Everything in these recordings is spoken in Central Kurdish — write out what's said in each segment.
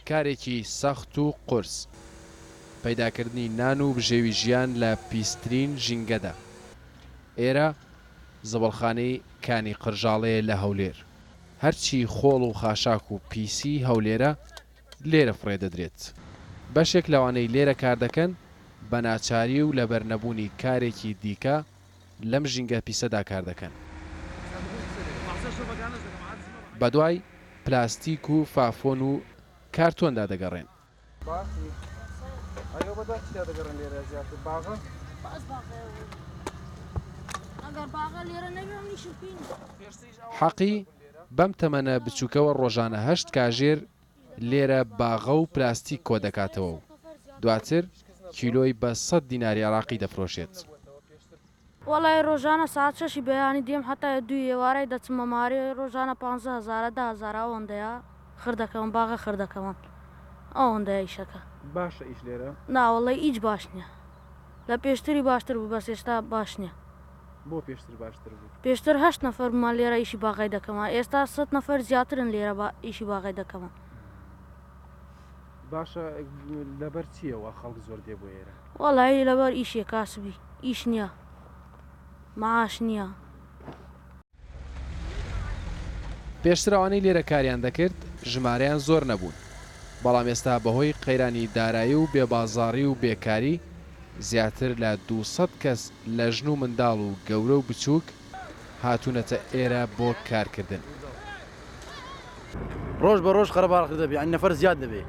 کارێکی سەخت و قورس. پەیداکردنی نان و بژێوی ژیان لە پیسترین ژینگەدا. ئێرە زبڵخانەی کانی قرژاڵەیە لە هەولێر. هەرچی خۆڵ و خاشاک و پیسی هەولێرە لێرە فڕێ دەدرێت. بەشێک لەوانەی لێرە کاردەکەن بە ناچاری و لەبەر نەبوونی کارێکی دیکە، لەم ژینگە پیسەدا کار دەکەن. بەدوای پلاستیک و فافۆن و کارتۆندا دەگەڕێن. حەقی بەم تەمەنە بچووکەوە ڕۆژانە هەشت کاژێر لێرە باغە و پلاستیک کۆدەکاتەوە و دواتر کیلۆی بە سەد دیناری عێراقی دەفرۆشێت. وەڵای ڕۆژانە سەعات شەشی بەیانی دێم هەتا دووی ئێوارای دەچمە مارێ ڕۆژانە پانزە هەزارە دە هەزارە ئەوەندەیە خر دەکەون باغە خر دەکەون ئەوەندەیە ئیشەکە. باشە ئیش لێرە؟ نا وەڵای ئیچ باش نیە لە پێشتری باشتر بوو بەس ئێستا باش نیە. بۆ پێشتر باشتر بوو. پێشتر هەشت نەفەر بوومان لێرە ئیشی باغای دەکەمان ئێستا سەد نەفەر زیاترن لێرە ئیشی باغای دەکەمان. باشە لەبەر چییە وا خەڵک زۆر دێ بۆ ئێرە؟ وەڵایی لەبەر ئیشێ کاسبی ئیش نییە معاش نییە. پێشتر ئەوانەی لێرە کاریان دەکرد ژمارەیان زۆر نەبوون، بەڵام ئێستا بەهۆی قەیرانی دارایی و بێ بازاڕی و بێ کاری، زیاتر لە دوو سەد کەس لە ژن و منداڵ و گەورە و بچووک هاتوونەتە ئێرە بۆ کارکردن. ڕۆژ بە ڕۆژ قەرەباڵغ دەبێ یانی نەفەر زیاد دەبێ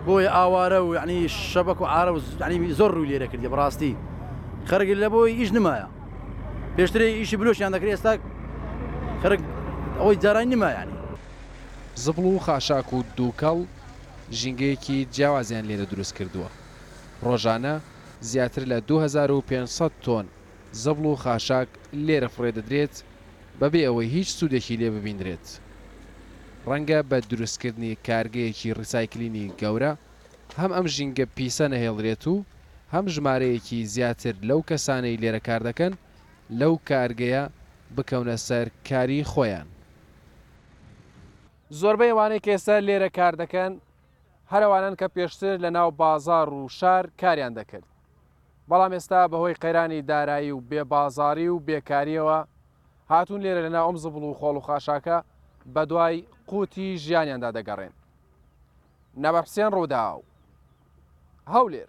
بۆیە ئاوارە و یعنی شەبەک و عارە و ینی زۆر ڕووی لێرە کردی بەڕاستی خەرگل لە بۆی ئیش نمایە پێشتری ئیشی بلوشیان دەکرێ ئێستا خەرک ئەوەی جارانی نمایانی زبڵ و خاشاک و دووکەڵ ژینگەیەکی جیاوازیان لێرە دروست کردووە ڕۆژانە زیاتر لە دوو هەزار و پێنج سەد تۆن زەبڵ و خاشاک لێرە فڕێ دەدرێت بەبێ ئەوەی هیچ سوودێکی لێ ببیندرێت. ڕەنگە بە دروستکردنی کارگەیەکی ڕیسایکلینی گەورە هەم ئەم ژینگە پیسە نەهێڵرێت و هەم ژمارەیەکی زیاتر لەو کەسانەی لێرە کار دەکەن لەو کارگەیە بکەونە سەر کاری خۆیان. زۆربەی ئەوانەی کە ئێستا لێرە کار دەکەن هەر ئەوانەن کە پێشتر لەناو بازاڕ و شار کاریان دەکرد. بەڵام ئێستا بەهۆی قەیرانی دارایی و بێ بازاری و بێکاریەوە هاتوون لێرە لەناو ئەم زبڵ و خۆڵ و خاشاکە بەدوای قوتی ژیانیاندا دەگەڕێن. نەبەرحسێن ڕووداو. هەولێر.